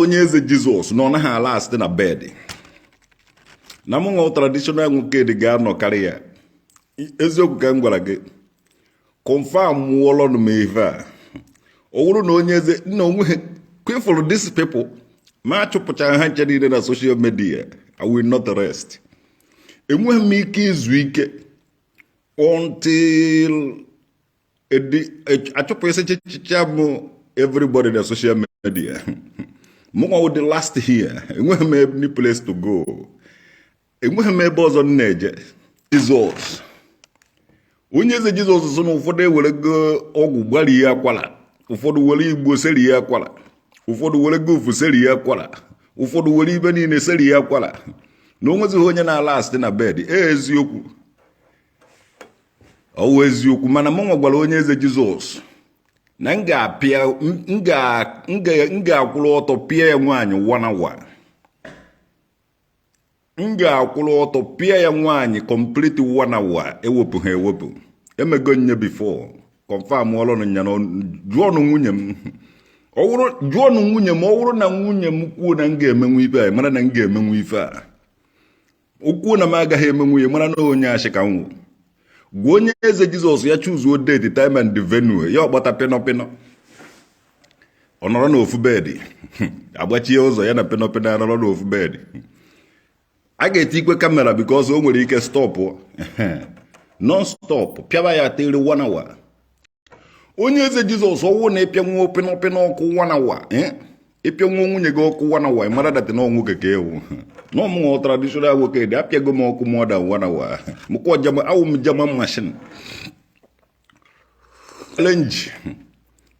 Onyeze Jesus na ọ naghị alast na bed na mụ nwa traditional Nwokedi ga-anọ karịa ya eziokwu ka m gwara gị confirmụọlọnụ m ife a ọ wụrụ na Onyeze na onweghị kwefụrụ these people ma achụpụcha ha ncha niile na social media i will not rest enweghị m ike izu ike until achụpụsichicha m everybody na social media mụnwa wụ the last here enweghị m any place to go enweghị m ebe ọzọ m na-eje Jesus Onyeze Jesus sị na ụfọdụ ewerego ọgwụ gbari ya akwara ụfọdụ were igbo seri ya akwara ụfọdụ were gofu seri ya akwara ụfọdụ were ife niile seri ya akwara na onwezighị onye na-alast na bed ee eziokwu ọ wụ eziokwu mana mụnwa gwara Onyeze Jesus na m ga-akwụrụ ọtọ pịa ya nwaanyị one hour m ga-akwụrụ ọtọ pịa ya nwaanyị complete one hour ewepụha ewepụ emego m ya before confirmụọlụnụ nya na jụọnụ nwunye m jụọnụ nwunye m ọ wụrụ na nwunye m kwuo na m ga-emenwu ife a mara na m ga-emenwu ife a o kwuo na m agaghị emenwu ya mara na onye ashị ka m wụ gwa Onyeze Jesus ya chuzuo date time and venue ya akpọta pịnọpịnọ ọ nọrọ n'ofu bed agbachie ụzọ ya na pịnọpịnọ ya nọrọ n'ofu bed a ga-etikwe camera because o nwere ike stop non stop pịaba ya till one hour Onyeze Jesus ọ wụ na ị pịanwuo pịnọpịnọ ọkụ one hour eh? ị pịanwuo nwunye gị ọkụ one hour mara that na ọnwụ keke ewu na mụnwa traditional Nwokedi apịago m ọkụ more than one hour mụkwa German awụ m German machine challenge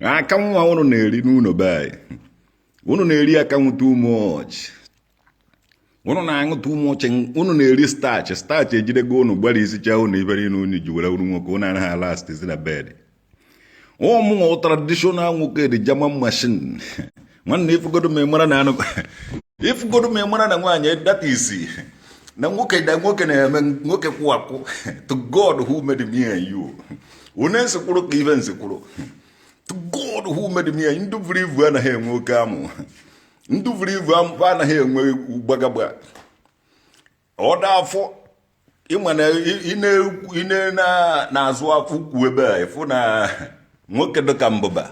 akanwụ ụnụ na-eri n'ụlọ be anyị ụnụ na-eri akanwụ too much unu na-aṅụ too much unu na-eri starch starch ejidego unu gbarisicha unu ibere ife unu ji were wụrụ nwoke unu anaghị alastịzi na bed mụnwa traditional Nwokedi German machine nwanne ifugodo m amara na anụ ifugodo m amara na nwaanyị that is na nwoke da nwoke na-eme nwoke kwụ akwụ to God who made me and you onye nsikwụrụ ka ife nsikwụrụ to God who made me and you ndị buru ibu anaghị enwe oke amụ ndị buru ibu anaghị enwe gbagagba ọ dị afọ ịma na ine na-azụ afọ ukwu ebe a ịfụ na nwoke dịka mbụba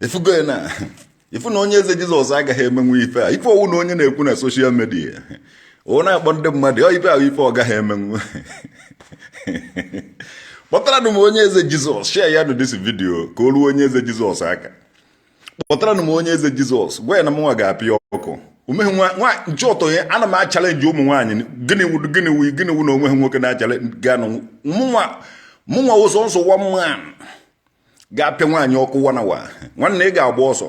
ịfụgo ya na ịfụ na Onyeze Jesus agaghị emenwu ife a ife ọ wụ na onye na-ekwu na social media ọ na-akpọ ndị mmadụ ọ ife ahụ ife ọ gaghị emenwu kpọtara m Onyeze Jesus share ya nụ this video ka o ruo Onyeze Jesus aka kpọtaranụ m onye eze jesus gwa ya na mụnwa ga-apịa ọkụ omeghe nwa nche ọtọ ya ana m achallenge ụmụ nwaanyị gịnị wụ gịnị wụ gịnị wụ na onweghị nwoke na-achallenge ganụ mụnwa mụnwa wụ sọsọ one man ga-apịa nwaanyị ọkụ one hour nwanne ị ga-agba ọsọ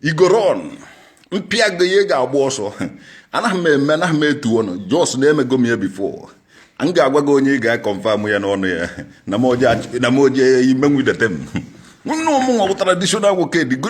you go run m pịa gị ị ga-agba ọsọ anaghị m eme anaghị m etu ọnụ just na emego m ya before m ga-agwa gị onye ị ga-aconfirm ya n'ọnụ ya na m oje ime nwidete m nwanne mụnwa bụ traditional nwoke dị good